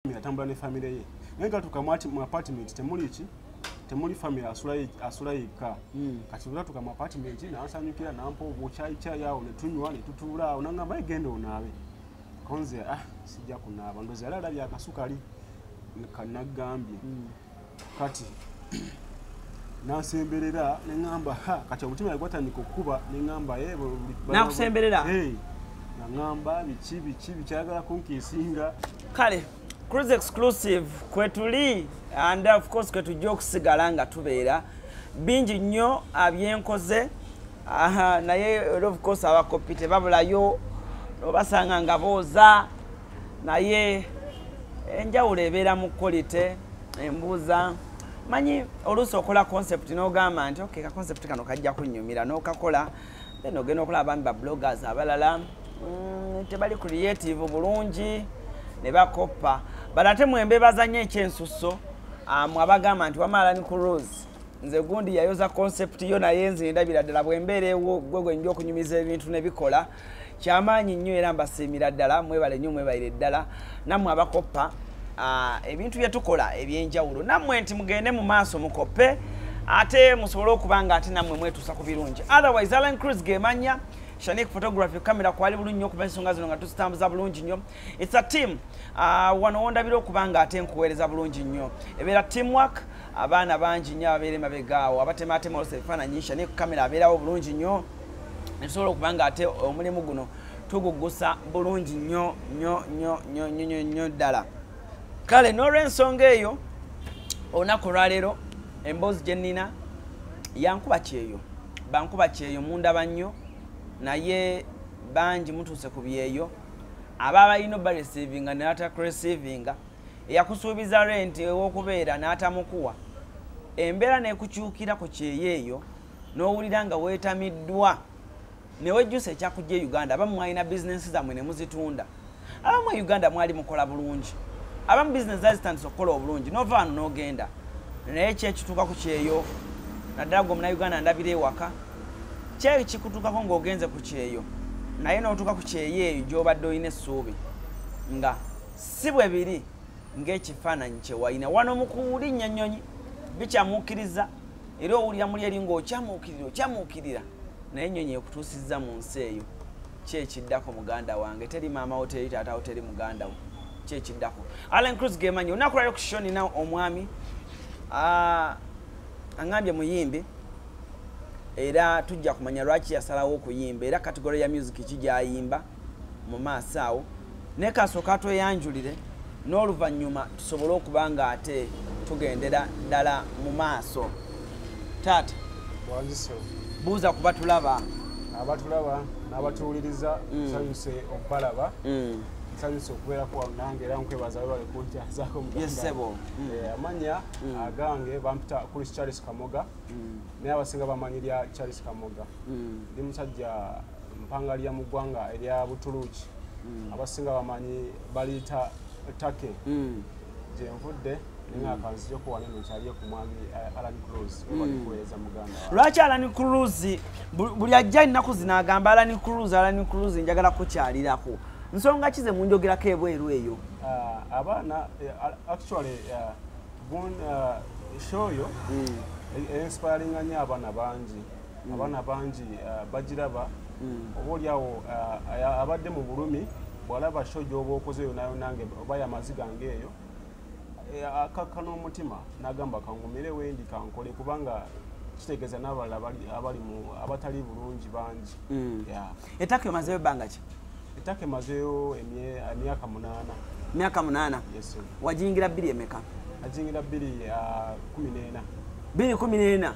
family atambula ne family ye naye gatuka mwati mu apartment temuli ki temuli family asula asula yeka mm. kati ula tuka mu apartment na asanyukira na mpo obo chai chai yao ne tunywa ne tutula onanga mai gendo nawe konze ah sija kuna abandozi ala ala ya kasukali kanagambi mm. kati nasemberera neŋamba ha kati omutima yali gwatandika okukuba neŋamba eh, nakusemberera naŋamba biki biki bikyagala kunkiisinga kale cruise exclusive kwetuli and of course kwetujja okusigala nga tubeera bingi nnyo abyenkoze naye of course abakoppi tebabulayo obasanga nga booza naye enjawulo ebeera mu kolite embuuza manyi oluusi okola concept n'ogamba nti ok ka concept kano kajja kunyumira n'okakola then ogenda okola abami ba bloggers abalala mm, tebali creative bulungi ne bakoppa bala ate mwembebazanyo ekyensusso amwe abagamba nti wamaala ni ku rose nze gundi yayoza concept yo naye nze ndabira ddala bwembeera ewo gwe gwenja okunyumiza ebintu nebikola kyamaanyi nnyo era mbasiimira ddala mwebale nnyo mwebalire ddala nammwe abakoppa ah, ebintu bye tukola eby'enjawulo nammwe nti mugende mu maaso mukoppe ate musobole okuba nga ate nammwe mwetuusa ku birungi otherwise allen cruz gemanya shanik photography camera kwali bulungi nnyo okuba ensonga zino nga tuzitambuza bulungi nnyo its a team ah, wano wondabira okuba nga ate nkuweereza bulungi nnyo ebeera team work abaana bangi nnyo ababeera emabegaawo abatemaatema olusa ebifaananyi shanik camera abeerawo bulungi nnyo esobola okuba nga ate omulimu guno tugugusa bulungi nnyo nnyo nnyo nnyo nnyo nnyo nnyo ddala kale n'olwensonga eyo olunaku olwaleero emboozi gye nnina yankuba kyeyo bankuba kyeyo mundaba nnyo naye bangi mutuuse ku byeyo aba balina obaresivinga natakuresivinga eyakusuubiza renti ew'okubeera n'atamukuwa embeera nekukyukira ku kyeyo eyo n'owulira nga weetamiddwa ne wejjusa ekyakujja e uganda abamu mwalina bizinensi zammwe ne muzitunda abamu e uganda mwali mukola bulungi abamu bizinensi zazitandisa okukola obulungi nova wano n'ogenda naye kyekituuka ku kyeyo naddala gwe omunauganda ndabira ewaka kyeyo kikutuukako ng'ogenze ku kyeyo naye n'otuuka ku kyeyo eyo gy'obadde olina essuubi nga si bwe biri ng'ekifaananyi kyewalina wano mukuwulinnya ennyonyi bikyamuukiriza era owulira muli eri ng'okyamuukirira okyamuukirira naye ennyonyi ekutuusizza mu nsi eyo ki ekiddako muganda wange teri maama wo teri taata wo teri muganda wo ki ekiddako allen cruz gemanyi olunaku lwaliro ku shoni nawe omwami aŋambye muyimbi era tujja kumanya lwaki yasalawo okuyimba era kategore ya music ki gyayimba mu maaso awo naye kasooka tweyanjulire n'oluvannyuma tusobole okuba nga ate tugendera ddala mu maaso taata buuza kuba tulaba abatulaba n'abatuwuliriza mm. nsanyuse okubalaba mm. nsanyuse okubeerako wano nange era nkwebaza webale kunjazaako muyesebo mm. eh, amanya agange bampita kuli charles kamoga naye abasinga bamanyi lya charles kamoga ndi musajja mpanga lya mu ggwanga erya butuluuki hmm. abasinga bamanyi baliyita take hmm. gyenvudde lwaki alani cruz buli ajja ennaku zino agamba alani cruz alani cruz njagala kukyalirako nsonga kize munjogerako ebweru eyo ah, abaana eh, actually eh, gun eh, show yo mm. e-, e-inspiringa nyo abaana bangi mm. abaana bangi uh, bagiraba mm. oba oliawo uh, abadde mu bulumi bwalaba sho gyoba okoze eyo nayo nange oba yamazi gange eyo eh, akakka n'omutima nagamba kangumire wendi kankole kubanga kitegeeza n'abalala abali mu abatali bulungi bangi mm. etaka emazeyo ebbanga ki etaka emazeyo emyaka munaana myaka munaana wajingira bbiri emeka ajingira bbiri uh, kumi n'ena bbiri kumi n'ena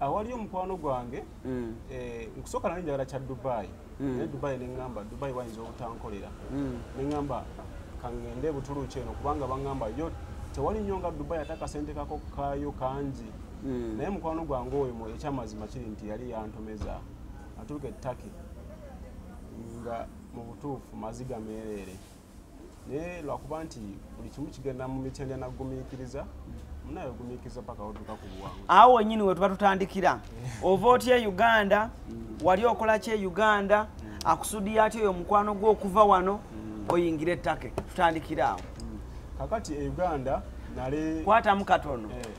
awali omukwano gwange mm. eh, nkusooka nali njagala kya dubai mm. naye dubai neŋamba dubai wayinza obutankolera mm. neŋamba kaŋŋende butuluuki eno kubanga baŋŋamba yo tewali nnyo nga dubai ate akasente kako kaayo kangi naye mukwano gwange oyo mu ekyamazima kiri nti yali yantomeza atuuka ettaki nga mu butuufu maziga meereere naye lwakuba nti buli kimu kigenda mu mitendera nagumiikiriza munaye ogumiikiriza paka oduka ku buwangu awo wenyini wetuba tutandikira eh. ova oti e uganda mm. wali okola ki e uganda mm. akusudiyo ati oyo omukwano gwe okuva wano mm. oyingira ettake tutandikira awo kakati e uganda nale kwatamu katono eh.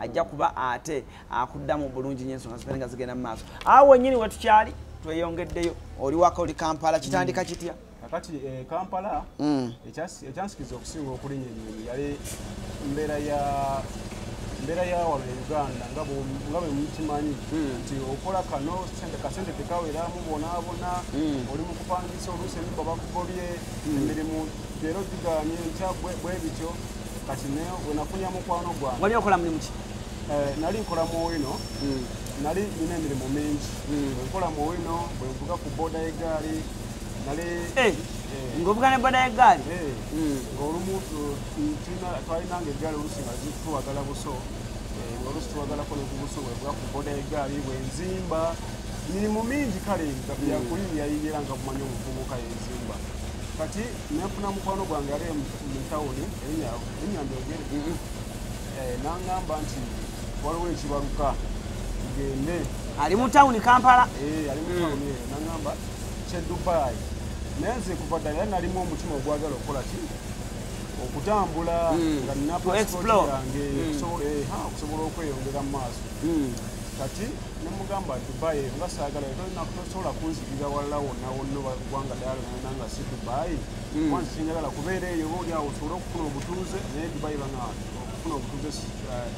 ajja kuba ate akuddamu bulungi nyo ensonga zifene nga zigenda mu maaso awo wenyini wetukyali tweyongeddeyo oli waka oli kampala kitandika kitya kakati eh, kampala mm. ekyansikiriza okusinga okulinya enyonyi yali mbeera ya mbeera ya wano e uganda nga bwemukimanyi hmm. nti okola kano kasente tekaweramu bonaabona hmm. oli mukupangisa oluusi emibwa bakugobye hmm. emirimu Leero tugaanye enkya bwe bityo kati ne we nafunira mukwano gwange. Wali okola mulimu ki? Eh, nali nkola mu wino. Hmm. Nali nina emirimu mingi. Hmm. Nkola mu wino, bwe nvuga ku boda y'eggaali. Nali eh, eh. ng'ovuga ne boda y'eggaali? Hmm. Ng'olumu twalinanga eggaali olusi nga zituwagala buso. Olusi tuwagalako ne ku buso bwe nvuga ku boda y'eggaali bwe nzimba. Mirimu mingi kale nga byakulira yayingira nga mumanyi omuvubuka yenzimba. kati nenfuna mukwano gwange ali mutawuni enyamba egere mm-hmm. eh, nangamba nti waliwo ekibaluka gende ali mutawuni kampala eh, ali mutawuni mm. nangamba kyedubai naye nze kuva ddala era nalimu omutima ogwagala okukola ki okutambula mm. nga nina pasipoti yange mm. eh, okusobola okweyongera mu maaso kati nemugamba dubai nga saagala tosobola kunzikirira walala wonna wonna kubanga dala nenda nga si dubayi hmm. kwansi kinyagala kubeera eyo oba olyawo osobole okufuna obutuuze naye dubayi bana okufuna obutuuze eh,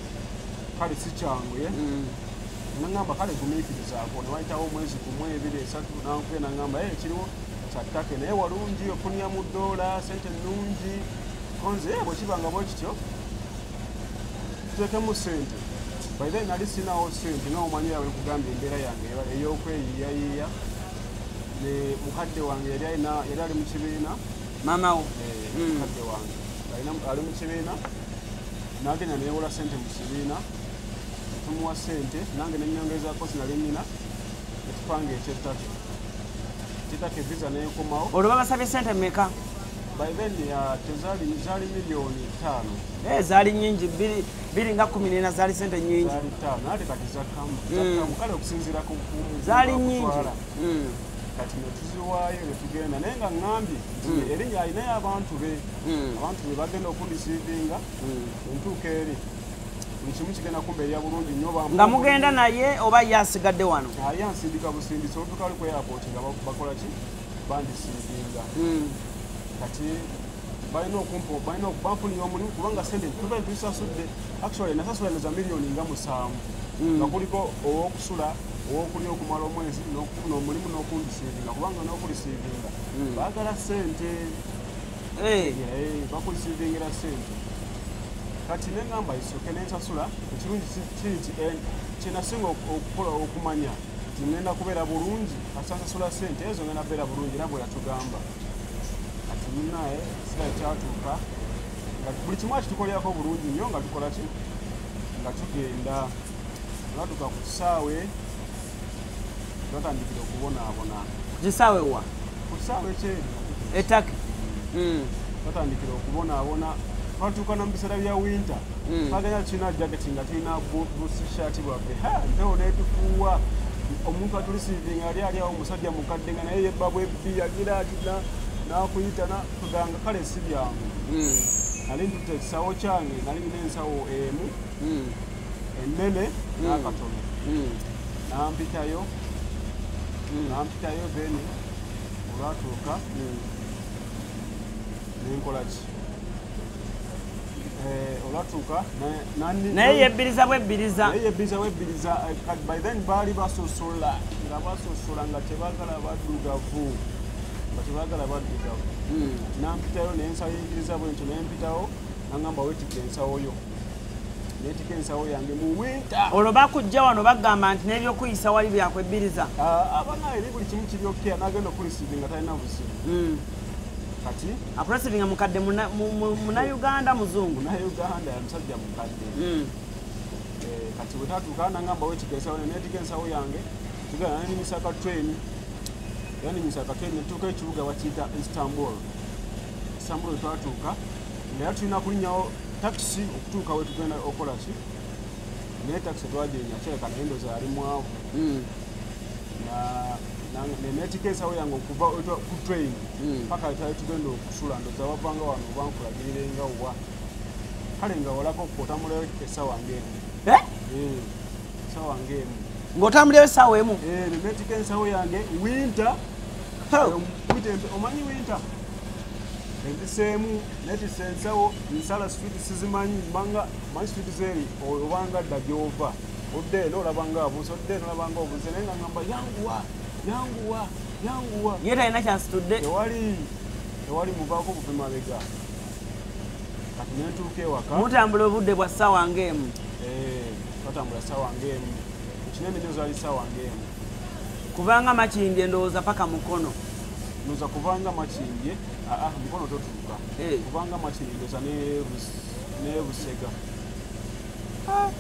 kale si kyangu ye hmm. nangamba kale gumiikirizaako newayitawo omwezi gumu ebiri esatu nankuye nangamba e kiriwo kyattake naye walungi ofunia mu doola sente nnungi konze eh, bwekibanga bwekityo tuteekemu sente by then nali sinawo sente noomanyira wekugamba embeera yange ey'okweyiyayiiya ne mukadde wange yali alina yali ali mu kibiina maama wo eh, mm. mukadde wange alina ali mu kibiina nagenda newola sente mu kibiina tumuwa sente nange nenyongezako sinali nina ekipanga ekyettatu kitaka evisa nekomawo olwo babasabye sente meka by then uh, tezali zali miliyoni ttaano eh, zali nyingi bbiri biri nga kumi nena zaali sente nyingi zaali hmm. nyingi hmm. kati netuziwaayo netugenda naye nga ŋambye hmm. erinya alinayo abantu be abantu be bagenda okundisiivinga entuuka eri ekimu kigenda kumbeerera bulungi nyo nga mugenda naye oba ye asigadde wano ali ansindika busindisi olutuka ali ku airport nga bakola ki bandisiivinga kati balina okumpa balina banfunira omulimu kubanga sente tuba tusasudde actually nasasula neza miliyoni nga musanvu mm. nga kuliko owokusula owokulya okumala omwezi nokufuna omulimu nokulisiivinga kubanga nokulisiivinga mm. bagala sente eh. eh, bakulisiivingira sente kati nengamba isoke nensasula ekirungi kiri nti eh, kyenasinga okukola okumanya nti ngenda kubeera bulungi asasasula sente ezo ngenda kubeera bulungi era bweyatugamba kati munaye sira kyatuuka nga buli kimu akitukolerako bulungi nnyo nga tukola ki nga tugenda olatuuka ku kisaawe twatandikira okubonaabona ku kisaawe wa ku kisaawe kyeru etaki hmm. twatandikira okubonaabona twatuuka na mu biseera bya winter hmm. twagenda tulina jaketi nga tulina busishati bwaffe mpewo netufuuwa omuntu atulisiivinga ali ali awo omusajja mukadde nga naye yebabwe yagira ati nakuyita nakuganga kale si byangu hmm. nali ntute ekisawo kyange nali nina ensawo emu hmm. enene hmm. nakatono nampitayo nampitayo then olwatuuka nenkolaki naye yebbiriza bwebbiriza baali basosola nga basosola nga tebagala baddugavu nga tebagala baddugavu hmm. nampitayo nensayingiriza bwentyo nempitawo nangamba wetika ensawo yo netika ensawo yange muwinta olwo bakujja wano bagamba nti nebyokuyisa wali byakwebbiriza ah, abanaeri buli kimu kiryokea nagenda okulisizi nga talina buzibu hmm. kati akuresivinga mukadde munauganda muzungu munauganda yamusajja mukadde hmm. eh, kati wetatuuka nangamba wetigesawo netiga ensawo yange tugana nanimisaka train yani misaka train netuuka ekibuga bakiyita istanbul istanbul twatuuka naye tulina kulinyawo takisi okutuuka wetugenda okola ki naye takisi twajenya kyereka naye ndoza yali mwavu hmm. netika ensawo yange okuva ku train hmm. paka wetwali tugenda okusula ndoza wavanga wano obankulagiire nga wa kale nga walako otamulayo esawa ngaemu eh? eh, esawa ngaemu ngaotambulayo esawa emu eh, netika ensawo yange winter omanyi winter enziseemu netisa ensawo nsala swit sizimanyi banga manyi swit zeri obanga dda gyova odde eno olaba nga abuze odde eno olaba nga obuze naye nga ngamba yanguwa yanguwa yanguwa ye talina kyansitudde tewali tewali muvaako buve mabega kati nentuuka ewaka mutambula obudde bwa ssaawa ngaemu eh, twatambula ssaawa ngaemu kinene nyo zali ssaawa ngaemu kubanga makindye ndowooza paka mukono noza kubanga makindye aa ah, ah, mukono totuuka eh. kubanga makindye ndoza nebusega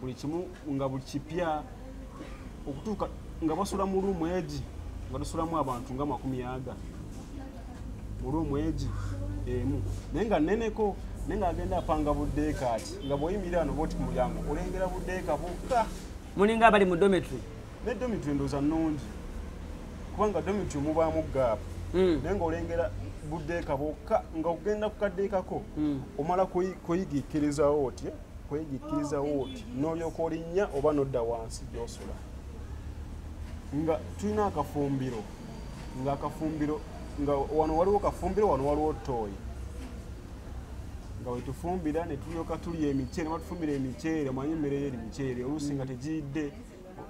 buli kimu nga buli kipya okutuuka nga basula mu luumu egi nga tusulamu abantu nga makumi aga mu luumu egi emu naye nga neneko naye nga agenda apanga buddeeka ati nga bwoyimira ano boti ku mulyango olengera buddeeka bukka mulinga abali mu dometry ne dometry ndooza nnungi kubanga dometry mubaamu gaapu hmm. naye nga olengera buddeeka bwokka nga ogenda ku kaddeekako hmm. omala kuyigikirizawo otye kwegikkiriza wooti n'olyoka olinnya oba nodda wansi gyosula nga tulina akafumbiro nga akafumbiro nga wano waliwo kafumbiro wano waliwo tooyi nga wetufumbira netulyoka tulya emiceere nebatufumbira emiceere omanyi emmere yo eri miceere oluusi nga tegiyidde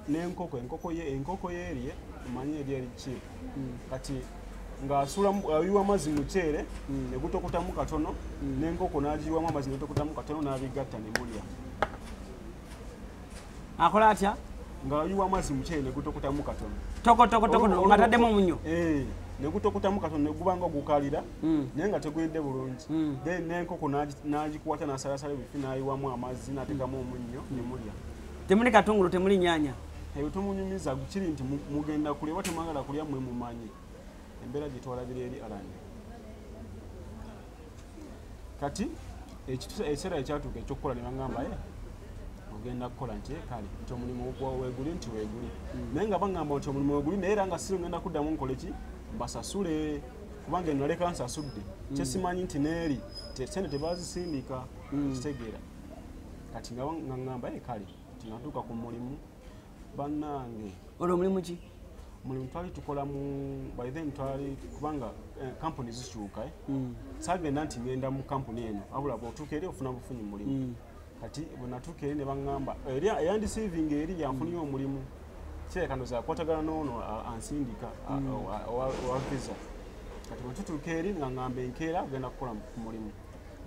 n'enkoko enkoko ye enkoko yeerye omanyi eri eri ki hmm. kati ng'ayiwa amazzi muceere hmm. negutokutamu katono hmm. n'enkoko n'agiyiwamu amazzi negutokutamu katono n'abigatta ne mulya akola atya ng'ayiwa amazzi muceere negutokutamu katono tokotokotokoatademu oh, oh, oh. omunyo eh, negutokutamu katono neguba nga ogukalira naye nga teguyidde bulungi then n'enkoko n'agikwata n'asalasala ebifi n'ayiwamu amazzi n'ateekamu omunnyo ne mulya temuli katungulu temuli nyanya ebyo tomunyumiza kiri nti mugenda kulya oba temwagala kulya mwe mumanyi embeera gyetwalabira eri alani kati ekiseera ekyatuuka ekyokukola nebagamba e eh, ogenda kukola nti eh, kale nti omulimu weguli nti weguli mm. naye nga bagamba nti omulimu weguli naye era nga siri ogenda kuddamu nkole ki mbasasule kubanga enaleka nsasudde mm. kyesimanyi nti neeri sente tebazisindika mm. kitegeera kati nga ngamba e kale tinatuuka ku mulimu bannange olwo omulimu ki mulimu twali tukola mu by then twali kubanga eh, kampuni zikyuka eh? mm. sagenda nti ngenda mu kampuni eno abula bwotuuka eri ofuna bufunyi mulimu mm. kati bwenatuuka eri ne baŋŋamba eyandisiivinga eri yanfuniyo mm. omulimu kirekano zakwatagana noono ansindika mm. owa visa kati bwetutuuka eri nga ŋŋamba enkeera agenda kukola ku mulimu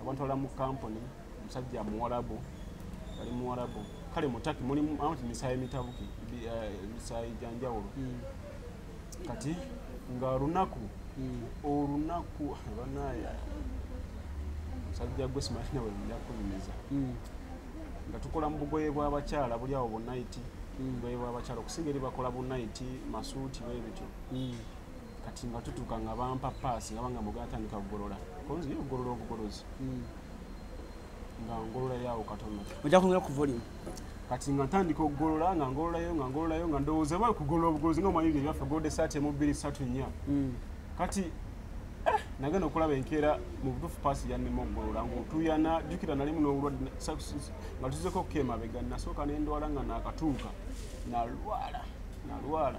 abantwala mu kampuni musajja muwarabu ali muwarabu kale mutaki mulimu amati misayi mitabuki eh, misayi janjawulo hmm. kati nga olunaku hmm. olunaku banaye musajja gwe simanyi nawe njakunyumiza hmm. nga tukola mu bugoye bw'abakyala buli awo bunayiti bugoye bw'abakyala okusinga eri bakola bunayiti masuuti bebityo kati nga tutuuka nga bampa paasi nga banga mugatandika kugolola konzi yo ogolola obugolozi nga ngolola yawo katono ojja kwongera ku volume kati nga ntandika okugolola nga ngololayo nga ngololayo nga ndowooza bali kugolola obugolozi nga omanyi bye byaffe golda esaati emu bbiri satu nnya mm. kati eh, nagenda okulaba enkeera mu butuufu paasi yannema okugolola ngaotuyana jjukira nalimu n'obulwadde nga tuzeko okuka emabega nasooka nendwala nga nakatuuka nalwala nalwala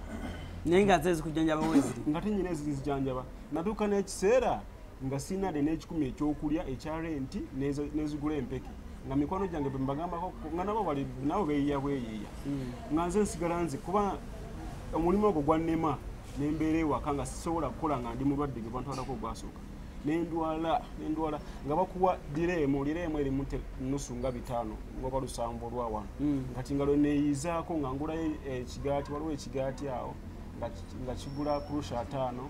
naye nga zezikujjanjaba weziri nga tenyina ezizijanjaba natuuka n'ekiseera nga sirina de n'ekikumi ekyokulya ekya renti nezigula empeke nga mikwano gyange bembagambako nga nabo bali nabo beyiya bweyiya hmm. nga nze nsigala nze kuba omulimu ogwo gwannema nembeera ewaka nga sisobola kukola nga ndi mulwadde ge bantwalako ogwasooka nendwala nendwala nga bakuwa direemu direemu erimu nusu nga bitaano ngoba lusanvu olwawano hmm. kati nga lweneyizaako nga ngulayo ekigaati waliwo ekigaati awo nga kigula kurusha ataano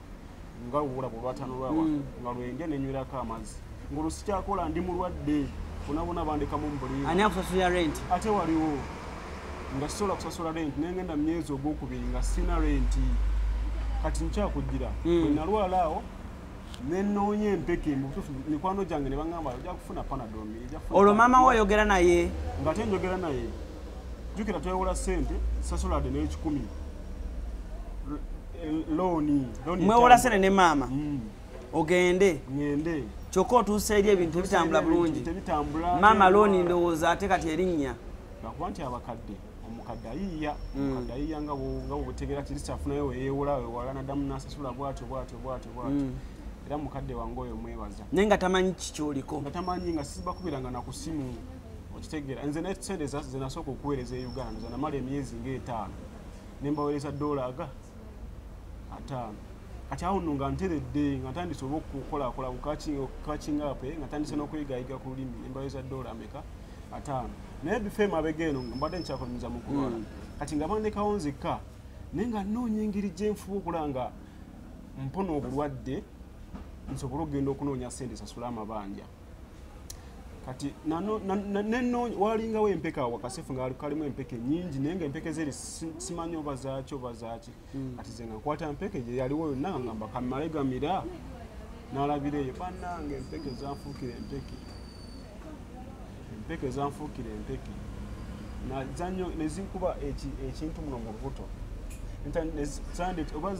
nga olulabo olwatano lwawa mm. nga lwenja nenywirako amazzi ngaolusikyakola ndi mulwadde bonabona bandekamu mubuliani akusasula rent ate waliwo nga sisobola kusasula rent nengenda mumyezi ogwokubiri nga sina renti kati nkyakujira mm. wenalwala awo nenoonya empeke mubutufu mikwano gyange nebagamba oja kufuna panadomi olwo maama wo oyogera naye nga te njogera naye jukira twewola sente sasulade nekikumi mwewolasene ne maama mm. ogende kyokka otuusa eri ebintu ebitambula bulungi maama looni ndowooza ate kati erinnya lwakuba nti abakadde omukadde ayiiya mm. omukadde ayiiya nga bwebutegera kirisi afunayo weyewola wewala nadamu nasasula bwatyo bwatyo bwatyo bwatyo mm. era mukadde wange oyo mwebaza naye nga tamanyi kikyoliko nga tamanyi nga sibakubiranga nakusimu okitegeera nze nesente zenasooka okuweereza e uganda zanamala emyezi ngaetaano ne mbaweereza doola aga ataano kati awo nno nga nteredde nga ntandise oba okukolakola kukakingape nga ntandise n'okuyigayiga ku lulimi ne mbaweereza doola ameka ataano naye bifa emabega eno nga mbadde nkyakolmiza mu kulwala hmm. kati nga bandekawo nzekka naye nga nnoonya engeri gye nfuba okula nga mpona obulwadde nsobole okugenda okunoonya sente sasula amabanja kati nenoonya walingawo empeke awo akasefu nga kalimu empeke nyingi naye nga empeke zeri simanyi oba zaaki oba zaaki hmm. kati ze nga nkwata mpeke gye yaliwo yonna nga ngamba kamale gamira nalabira eyo banange empeke zanfuukira empeke empeke zanfuukira empeke nezikuba ekintu muno mu lubuto oba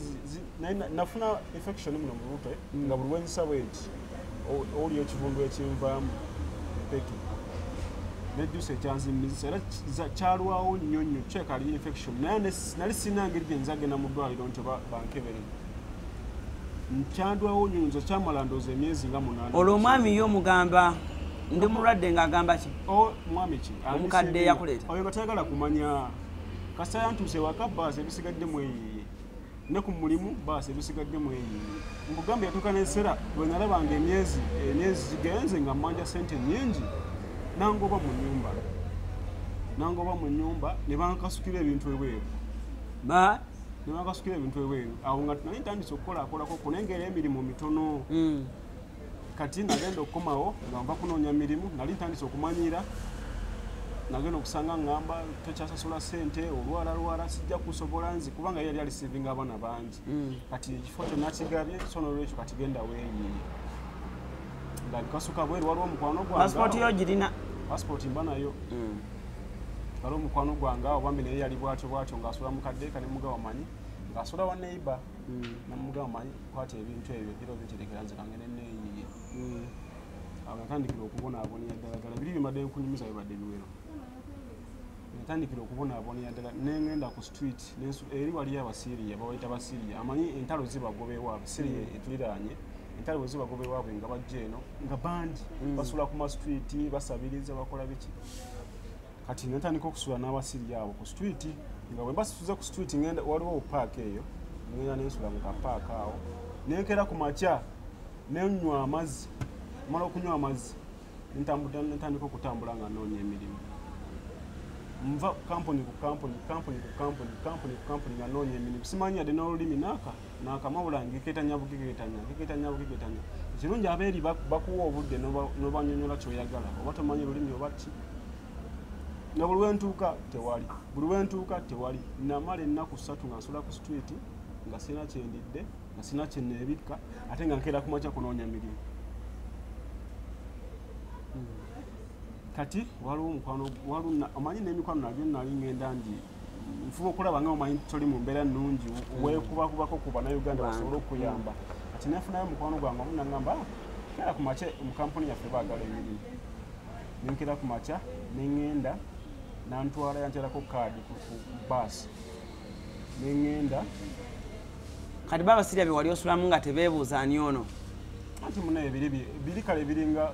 naye nafuna infection muno mu lutwe mm. nga buli wenzisa bwenti oli ekivundu ekinvaamu mpeke nejjusa ekyanzimizisa era kyalwawo nnyo nnyo kyekali infection naye nali sirina ngeri gyenza genda mu ddwaliro nti oba bankebere kyandwawo nnyo nze kyamala ndooza emyezi nga munaana olwo omwami yo omugamba ndi mulwadde ng'agamba ki omwami ki omukadde yakuleeta oyo nga tayagala kumanya kasita yantuuse wakabbaasa ebisigadde mweyiye ne ku mulimu baasi ebisigadde mu eyiyi nkugamba yatuuka n'ekiseera bwe nalaba nga emyezi emyezi zigenze nga mmanja ssente nnyingi nangoba mu nnyumba nangoba mu nnyumba ne bankasukira ebintu ebweru ba ne bankasukira ebintu ebweru awo nga naye ntandise okukolakolako kunengera emirimu mitono mm. kati nagenda okukomawo nga nva kunoonya mirimu nali ntandise okumanyiira nagenda okusanga ngamba tokyasasula sente olwalalwala sijja kusobola nzi kubanga yali alisivinga abaana bangi mm. kati ekifo kyonna kigabye so nolwekyo kati genda weyiye nga nkasuka bweru waliwo omukwano gwanpasipoti yo girina pasipoti mba nayo mm. waliwo omukwano gwanga obambi naye yali bwatyo bwatyo ngaasula mukaddeeka ne mugawamanyi ngaasula wa neighbor mm. namugamba manyi kwata ebintu ebyo gira obinterekera nze kange neneeyiye mm. agatandikira okubonaabonera ddala ddala biri bibadde nkunyumiza bibadde biwero natandikira okubonaabonera ddala nengenda ku street eri waliyo abasiriya bawaita basiriya amanyi entalo zibagobewo abasiriya mm. etuliraanye entalo bwezibagobewaabwe nga bajja eno nga bangi basula ku mastreet basabiriza bakola biki kati nentandika okusula n'abasiri abo ku street nga bwe mbasituze ku street ngenda waliwo obupaaka eyo ngenda nensula mu kapaaka awo nenkera ku makya nenywa amazzi mala okunywa amazzi nentandika okutambula nga noonya emirimu nva kampuni ku kampuni kampuni ku kampuni kampuni ku kampuni nga noonya emirimu simanyi yadde n'olulimi naaka nakamawula ngeketanya bugeketanya ngeketanya bugeketanya ekirungi abeeri bakuwa obudde nobanyonyola kyoyagala oba tomanyi lulimi oba ki nga buli wentuuka tewali buli wentuuka tewali namala ennaku ssatu nga nsula ku street nga sirina kyendidde nga sirina kyeneebikka ate nga nkeera kumakya kunoonya mirimu hmm. kati waliwo omukwano waliwo omanyi n'emikwano nagyo nali ngenda njiiri nfuba okulaba nga omanyi toli mu mbeera nnungi mm. weekubakubako ku bannayuganda basobole okuyamba kati nefunayo mukwano gwange omu nagamba ah, kera ku makya mu kampuni yaffe baagala emirimu nenkera ku makya neŋŋenda nantwala yankyalako kaadi ku baasi neŋŋenda kati baba sirya bye wali osulamu nga tebeebuuza ani ono anti munaye biri kale biringa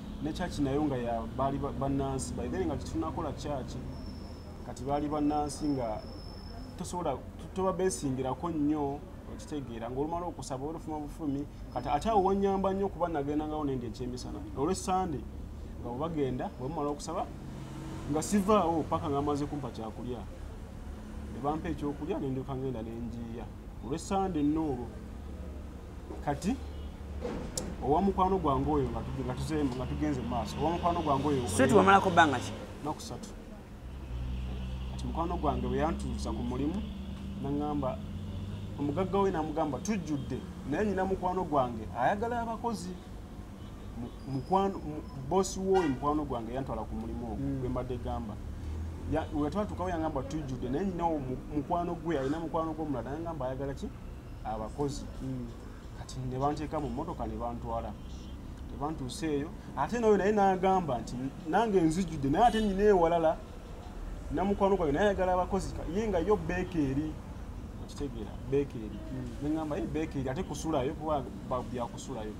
ne church nayo nga ya bali banansi by then nga kitunakola church kati bali banansi nga tosobola tuba besingirako nnyo okitegeera ngaolumala okusaba olufuma bufumi kati ate awo wanyamba nnyo okuba nagenda ngawo nende ekyemisana olwe sande nga bwebagenda bwemumala okusaba nga sivaawo paka nga amaze kumpa kyakulya nebampa ekyokulya nendyokangenda nenjiiya olwe sande nno olwo kati owa mukwano gwange oyo nga tugenze mu maaso owa mukwano gwange oyo sweet wamalako bbanga ki naku satu kati mukwano gwange bwe yantuusa ku mulimu naŋŋamba omugagga we namugamba tujjudde naye nyina mukwano gwange ayagala abakozi bosi wooyo mukwano gwange yantwala ku mulimu ogwo hmm. gwe mbadde gamba wetwatukawo yangamba tujjudde naye nyina mukwano gwe alina mukwano gwomulala nayangamba ayagala ki abakozi mm. kati ne banteeka mu mmotoka ne bantwala ne bantuusa eyo ate nayo naye n'agamba nti nange nzijjudde naye ate nyina ewalala namukwano gwange naye ayagala abakozi ye nga yo beeka eri okitegeera beeka eri mm. ne ŋamba ye beeka eri ate kusulayo kuba byakusulayo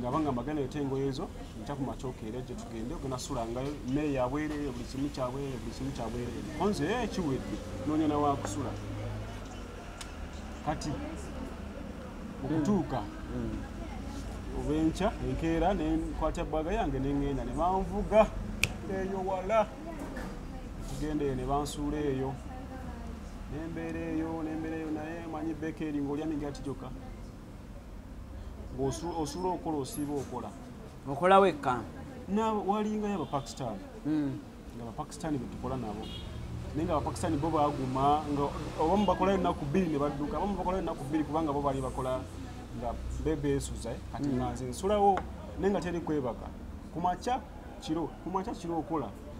nga bangamba gana ete engoye ezo nja ku makyokeera gye tugende ogenda sulangayo mmere yabwereere buli kimu kyabwereere buli kimu kyabwereere onze e eh, kiwedde noonya nawakusula kati okutuuka hmm. obwenkya enkeera nenkwata bwaga yange nengenda ne banvuga eyo wala tugenda eyo ne bansuula eyo nembeera eyo nembeera eyo naye manyi beeka eri ngaolya migati gyokka osula okola osiiba okola okola wekka walingayo abapakistan hmm. nga abapakistan betukola nabo naye nga abapakistan bo baguma nga abamu bakolayo ennaku bbiri ne badduka abamu bakolayo ennaku bbiri kubanga bo bali bakola nga bebeesuza eh, kati hmm. nga nze nsulawo naye nga teri kwebaka kumakya kiro kumakya kiro okola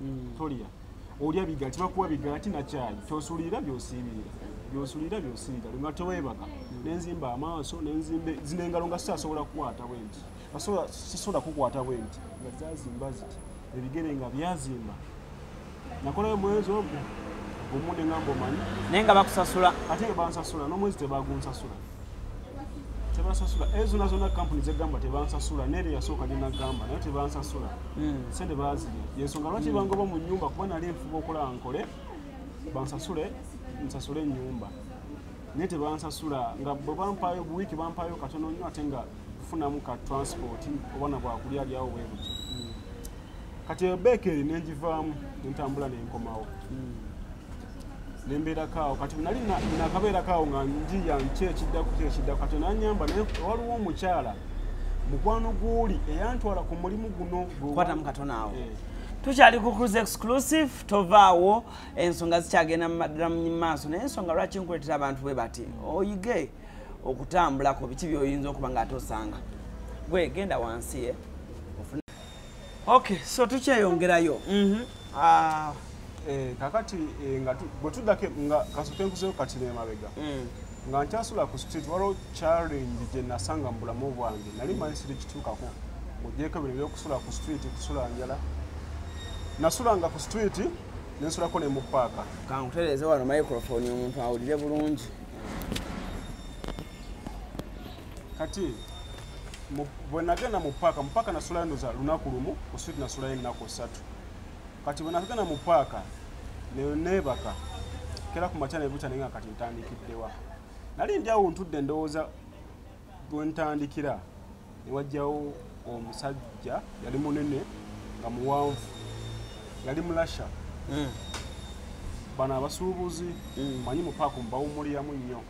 mm. tolya olya bigala tibakuwa bigala tinakyayi kyosulira byosiibirira byosulira byosiibira nga teweebaka mm. nenzimba amaaso nenzimba zino engalo nga sisasobola kukwata bwenti sisobola kukwata bwenti nga zazimba ziti ebigere nga byazimba nakolayo mwezi ogwo omu nengamba omanyi naye nga bakusasula ate bansasula n'omwezi tebagunsasula tebansasula ezo zona zona kampuni zegamba tebansasula nere yasooka gyenagamba naye tebansasula hmm. sente baziri yensonga lwaki hmm. bangoba mu nyumba kuba nali nfuba okola nkole bansasule nsasule enyumba naye tebansasula nga bwe bampayo buwiiki bampayo katono nnyo ate nga tufunamu ka transport obwana bwakulya alyawo bwebuti hmm. kati ebeeka eri nenjivaamu nentambula nenkomawo nembeerakaawo kati nali nakabeerakaawo nga njiya nki ekiddako ki ekiddako kati nanyamba naye waliwo omukyala mukwano gwoli eyantwala ku mulimu guno kwatamu katona awo eh. tukyali ku cruise exclusive tovaawo ensonga zikyagenda mumaddala mu maaso naye ensonga lwaki nkuletera abantu bwe bati oyige okutambulako biki byoyinza okuba nga ate osanga gwe genda wansi ye eh? okay so tukyeyongerayo mhm. ah, eh, kakati eh, nga bwetuddako nga kasoke nkuzeyo kati nemabega mm. nga nkyasula ku street waliwo challenge gye nasanga mu bulamu bwange nali manyi siri kituukako ogyeko bino ebyokusula ku street kusula njala nasulanga ku street nensulako ne mu paaka kankutereeze wano microphone omuntu awulire bulungi kati bwe nagenda mu paaka mu paaka nasulayo ndoza lunaku lumu ku switi nasulayo ennaku ssatu kati bwe nagenda mu paaka neebaka kera ku makya nebukya naye nga kati ntandikiddewa nali ndi awo ntudde ndowooza bwe ntandikira ne wajjawo omusajja yali munene nga muwanvu yali mulasha hmm. bano abasuubuzi hmm. manyi mu paaka omubawumuliyamu nnyo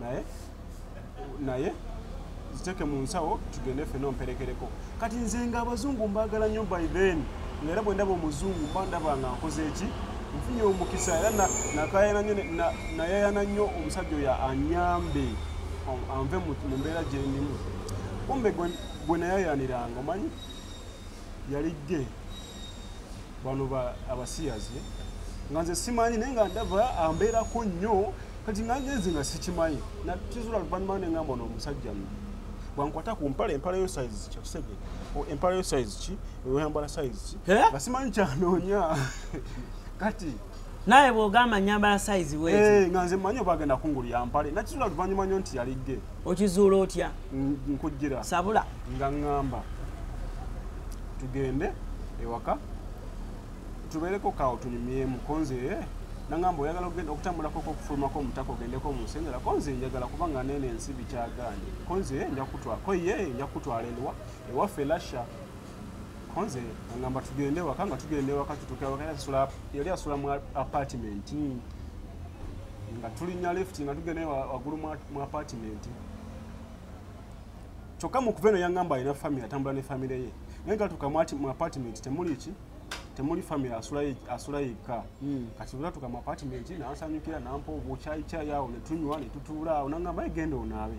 naye naye ziteeke mu nsawo tugende ffe nomperekereko kati nze nga abazungu mbaagala nnyo by then nga era bwe ndaba omuzungu mba ndaba nga nkoze eki nfunye omukisa era nayayana nnyo omusajja oyo anyambe anve mu mbeera gyendimu kumbe gwe nayayaniranga omanyi yali gge bano abasiyazi nga nze simanyi naye nga ndaba ambeerako nnyo kati nga ngenze nga sikimanyi nakizula luvannyuma ne ngamba no omusajja no bwankwata ku mpale empala yo size kyakisege empala yo size ki oyambala size ki nga simanyi kyanoonya kati naye bwogamba nyambala size we eh, nga nze manyo bagenda kungulu ya mpale nakizula luvanyuma nyo nti yali ge okizuula otya nkujjira sabula nga ngamba tugende ewaka tubeereko kawo tunyumyemu konze eh, nangamba oyagala ogenda okutambulako okufulumako omutaka ogendeko munsengera konze njagala kubanga nene ensi bikyaganye konze eh, njakutwala koye njakutwala enwa ewaffe lasha konze angamba tugende waka nga tugenda ewaka tutuuka waka era sula yali asula mu apartment hmm. nga tulinya lift nga tugenda waggulu mu apartment kyokka mu kuva eno yangamba alina famire atambula ne famire ye naye nga tuka mu apartment temuli ki temuli famire asula yekka hmm. kati bula tuka mu apartment nansanyukira nampa obukyayi kyayi awo netunywa netutuula awo nangamba egenda onaabe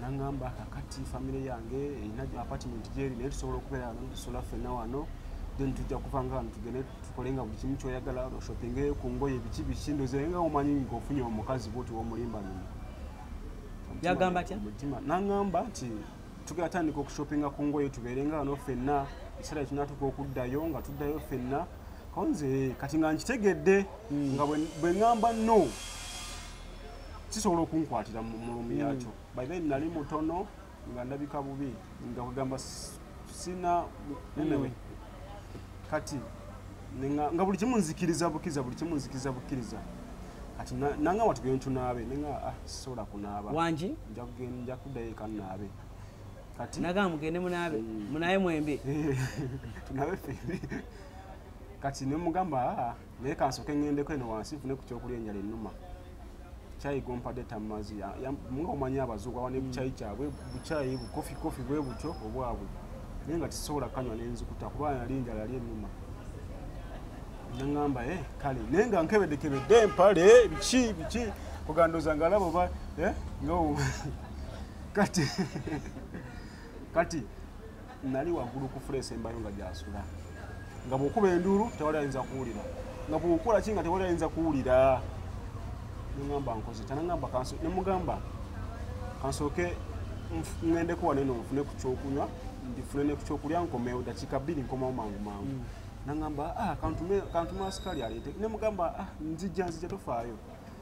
nangamba kakati famire yange erina apartment gyeri naye tusobola okubeera wano tusola ffenna wano then tujja kuva nga wano tugende tukole nga buli kimu kyoyagala oshoppinge ku ngoye biki biki ndoze nga omanyi nga ofunye omukazi bwoti womulimba lumu yagamba tya mutima nangamba nti tugenda tandika okushoppinga ku ngoye tubeere nga wano ffenna ekiseera kinatuka okuddayo nga tuddayo ffenna konze kati nga nkitegedde hmm. nga bwe ngamba no kisobola okunkwatira mu mulumi mm. yakyo by then nali mutono nga ndabika bubi nga kugamba sina mm. anyway kati nga buli kimu nzikiriza bukiriza buli kimu nzikiriza bukiriza kati nanga watu genda tunaabe nenga ah sola kunaaba wangi nja kugenda nja kuddayo eka naabe kati naga mugende munaabe mm. munaabe mwembi tunaabe ffe kati ne mugamba ah naye kansoke ŋŋendeko eno wansi nfune ku kyokulya enjala ennuma kyayi gompadde tammazi nga omanyi abazuuku aba ne bukyayi kyabwe bukyayi bukofi kofi bwe butyo obwabwe naye nga tisobola kanywa nenzikuta kuba yali enjala yali ennuma naŋamba e eh, kale naye nga nkebedekebedde empale biki biki kugandoza nga alaba oba eh, nga kati kati nali waggulu ku fula esembayo nga gyasula nga bw'okuba enduulu tewali ayinza kuwulira nga bw'okola ki nga tewali ayinza kuwulira nengamba nkoze tanangamba kanso nemugamba kansooke ŋŋendeko wano eno nfune ku kyokunywa ndifune ne ku kyokulya nkomewo dakiika bbiri nkomawo mangu mangu mm. nangamba ah, kantume asikali aleete nemugamba ah, nzijja nzijja tofaayo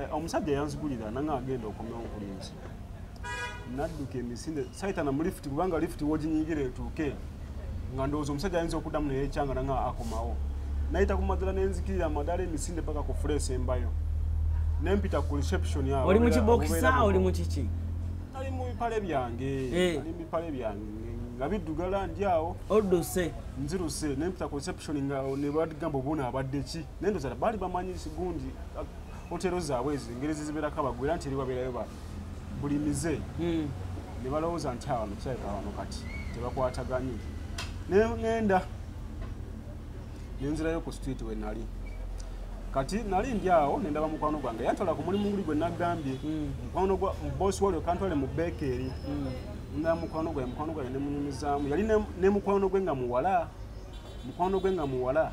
Eh, omusajja yanzigulira nanga agenda okomya obulinzi nadduka emisinde saitana mu lifuti kubanga lifuti woginyingira etuuke nga ndowooza omusajja ayinza okuddamu naye ekyanga nanga akomawo nayita ku madala nenzikirira amadala emisinde paka ku fuleesi embayo nempita ku reception awo oli mu kibokisa oli mu kiki ali mu bipale byange eh. ali mu bipale byange nga biddugala ndi awo odduse nziruse nempita ku reception nga nebagamba obuona abadde ki naye ndoza bali bamanyi gundi hotero zaabwe ezo engeri zizibeerako abagwe era nti eri babeerayo ba buli mize hmm. ne balowooza nti awano kirabika awano kati tebakwataganye naye ngenda nenzirayo ku street we nali kati nali ndi awo nendaba mukwano gwange yantwala ku mulimu guli gwe nagambye hmm. mukwano gwa bosi walio kantwale mu bekeeri hmm. ndaa mukwano gwaye mukwano gwaye nemunyumizaamu yali ne mukwano gwe nga muwala mukwano gwe nga muwala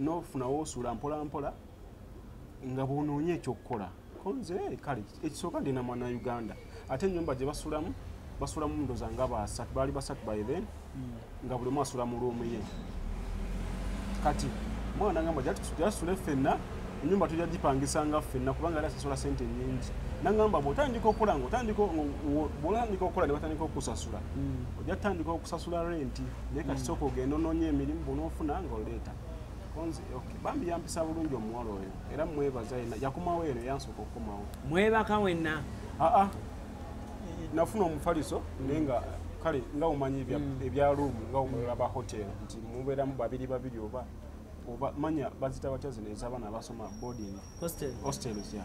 nofuna wosula mpolampola nga bwonoonye ekyokukola konze eh, kale ekisooka ndi namwana uganda ate enyumba gye basulamu basulamu ndoza nga basatu baali basatu by then hmm. nga buli omu asula mu luumu ye kati mwana ngamba jasule ffenna enyumba tujja gipangisanga ffenna kubanga era sasula sente nyingi nangamba bwotandika okola ngaotandika bwotandika okola ne batandika okusasula hmm. ojja tutandika okusasula renti naye kati sooka ogenda onoonya emirimu bwonaofuna nga oleeta bambi yampisa bulungi omuwala oyo era mwebaza yena yakomawo eno yansooka okukomawo mwebaka wenna aa ah, ah. nafuna omufaliso naye nga kale nga omanyi hmm. ebya room nga omulola ba hotel nti mubeeramu babiri babiri oba oba manya bazita batya zino ez'abaana abasoma boarding hostels ya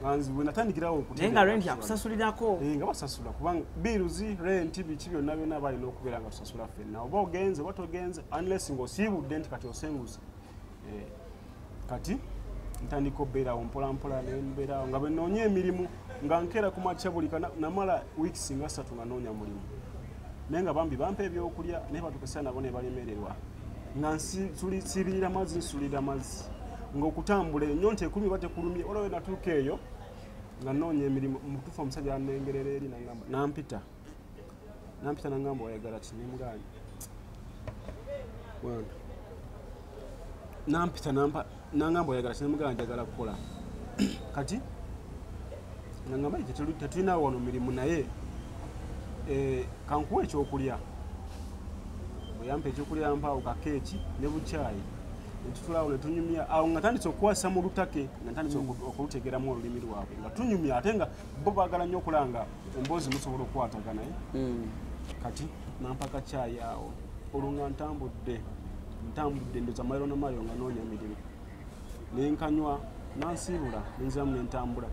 nganziwe natandikirawo okunaye nga renti akusasulirako eh, nga basasula kubanga biruzi renti biki byonna byonna balina okubeera nga tusasula fenna oba ogenze oba togenze unless ngaosiibudde nti kati osenguze eh, kati ntandika obeerawo mpolampola nembeerawo nga bwenoonya emirimu nga nkeera ku makya buli namala weeks nga satu nga noonya mulimu naye nga bambi bampa ebyokulya naye batukesera nabo nebaremererwa nga nsibirira mazzi nsulira mazzi ngaokutambula enyo nti ekulumye oba tekulumye olawe natuuka eyo nga noonya emirimu mutuufu omusajja anengerera eri nagamba nampita nampita nagamba oyagala kinemuganya nampita nampa nangamba oyagala sinemugala njagala kukola kati nangamba tetulina wano mirimu naye eh, kankuwa ekyokulya oyampa ekyokulya mpaawo kakeeki ne bukyayi netutulawo netunyumya awo nga tandise okukwasa mu lutake nga tandise mm. okulutegeramu olulimi lwabwe nga tunyumya ate nga bo bagala nnyo okulanga emboozi musobola okukwataganaye eh? mm. kati nampaka kyayi awo olwo nga ntambudde ntambudde ndoza mairo na mairo nga noonya mirimu nenkanywa nansiibula nenziramu nentambula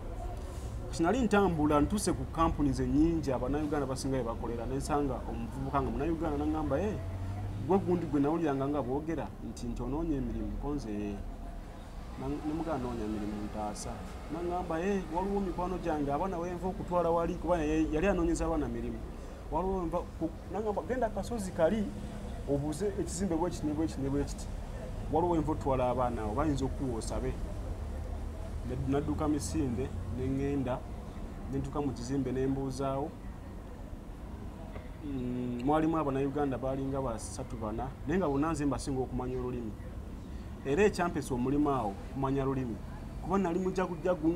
kati nali ntambula ntuuse ku kampuni zenyingi abanauganda basinga bebakolera nensanga omuvubuka nga munauganda nangamba e eh, gwe gundi gwe nawuliranga nga boogera nti nti onoonya emirimu konze eh. nemugana noonya mirimu ntaasa nangamba e eh, waliwo mikwano gyange abaana wenva okutwala wali kuba yali anoonyeza abaana mirimu nangamba genda kasozi kali obuze ekizimbe bwekiti nebwekiti nebwekiti waliwo enva otwala abaana awo bayinza okuwa osabe nadduka misinde neŋŋenda nentuka mu kizimbe nembuuzaawo mm, mwalimu abanauganda balinga basatu bana naye nga bonna nze mbasinga okumanya olulimi era ekyampesa omulimu awo kumanya lulimi kuba nali mujagujagu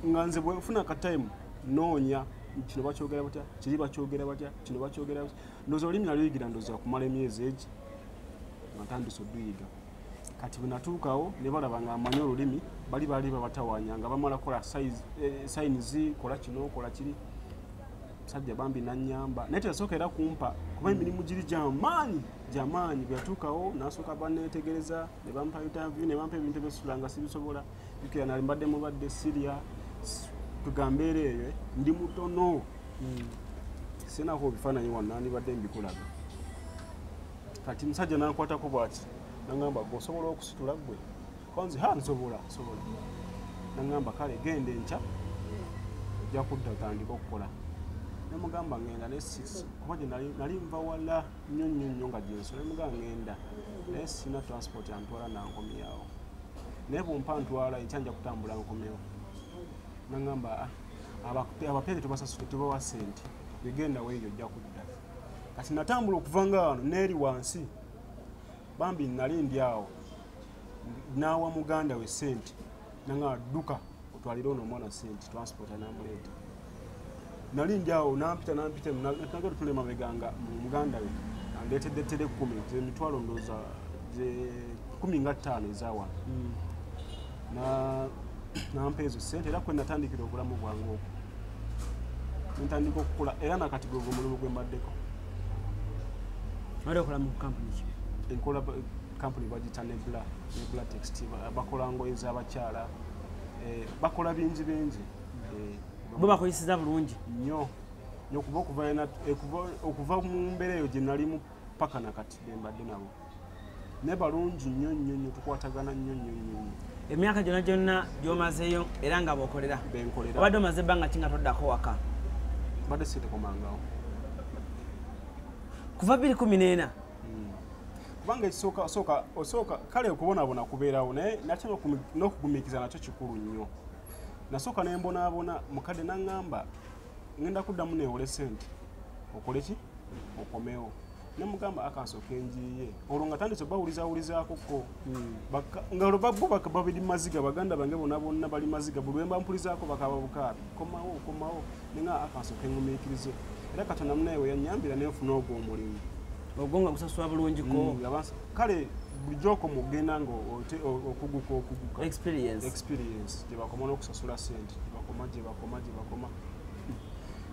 nga nze bwefuna kataimu noonya kino bakyogera batya kiri bakyogera batya kino bakyogera batya ndoza olimi naluyigila ndoza kumala emyezi egi nga ntandisa oduyiga kati bwenatuukawo nebalaba nga amanyi olulimi bali bali babatawanya nga bamala kola sayini zi kola kino kola kiri sajja bambi nanyamba naye teyasooka era kumpa kuba emirimu giri gyamaanyi gyamaanyi bweyatuukawo nasooka banetegereza nebampa interview nebampa ebintu ebyesulanga sibisobola jukira nali mbadde mubadde siria tugambeera eyo eh? ndi mutono hmm. sinako ebifaananyi wano nandibadde mbikulaga kati musajja nankwatako bwati nangamba gwe osobola okusitula gwe kanzi ha nsobola nsobola nangamba kale genda enkya ojja kudda otandika okukola nemugamba ngenda nesisi kuba gye nali nva wala nnyo nnyo nnyo nga gyensola nemugamba ngenda naye sina transport antwala nankomyawo naye bumpa ntwala enkya nja kutambula nkomewo nangamba ah, abapeere tubasasule tubawa sente egenda weeyo ojja kudda kati natambula okuva nga wano neeri wansi bambi nali ndi awo naawa muganda we sente nangamba dduka otwalire ono omwana sente transport anamuleeta nali njawo nampita nampita nagala tule mabega nga muganda we andetedde tere kumi emitwalo ndooza kumi nga ttaano ezawano hmm. nampa ezo sente era kwe natandikira obulamu bwange oku ntandika okukula era nakati gwe gwe mulimu gwe mbaddeko enkola kampuni bagita nebula nebula text bakola ngoye zabakyala eh, bakola bingi bingi bo bakoyeseza bulungi nyo nyokuba okuva ena eh, okuva mu mbeera eyo gye nalimu paka na kati bembadde nabo naye balungi nyo nyo nyo tukwatagana nyo nyo nyo emyaka gyona gyonna gyomazeeyo era nga bokolera benkolera obadde omaze ebbanga ki nga toddako waka badde sitekomangawo kuva biri kumi n'ena hmm. kubanga ekisooka osooka kale okubonabona kubeerawo naye nate n'okugumikiza nakyo kikulu nnyo nasooka ne mbonaabona mukadde naŋŋamba ŋenda kuddamu neewole sente okole ki okomewo ne mugamba akansooka enjiiye olwo nga tandise bawulizawulizaako ko hmm. nga olwo babbo babiri maziga baganda bange bona bonna bali maziga buli wemba mpulizaako bakaba bukaabi komawo komawo nenga akansooka engumiikirize era katonda munaye weyanyambira nenfuna ogwo omulimu ogwo nga gusasula bulungiko hmm, kale bulijjo oko mugenda nga okuguka okuguka experience gyebakoma n'okusasula sente gyebakoma gyebakoma gyebakoma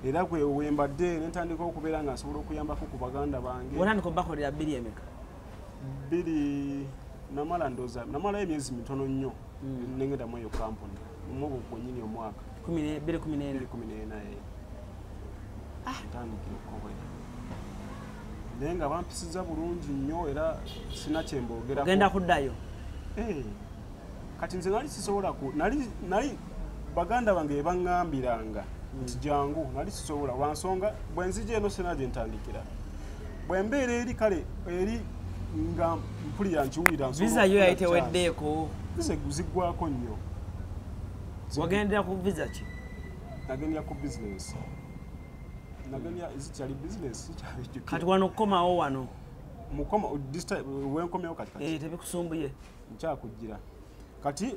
era gwe wembadde nentandika okubeera nga nsobola okuyambako ku baganda bange otandika obakolera biri emeka biri namala ndoza namalayo emyezi mitono nnyo hmm. nengedamu eyo kampuni mubu mwenyini omwaka bere kumi nena kumi nena eh. ah. ntandikire okukobera naye nga bampisiza bulungi nnyo era sina kyembogeragenda kuddayo eh. kati nze nali sisobola ku nali nali baganda bange bebaŋambiranga nti jangu nali sisobola lwansonga bwenzija eno sina gyentandikira bwembeera eri kale eri nga mpulira nkiwulira visa yo yayiteweddeeko visa ziggwako nnyo wagendera ku visa ki nagendera ku bizinesi nagendera zikyali bizinesi zikyali kati wano okukomawo wano mukoma wenkomyewo kati kati eh, tebikusumbuye nkyakujjira kati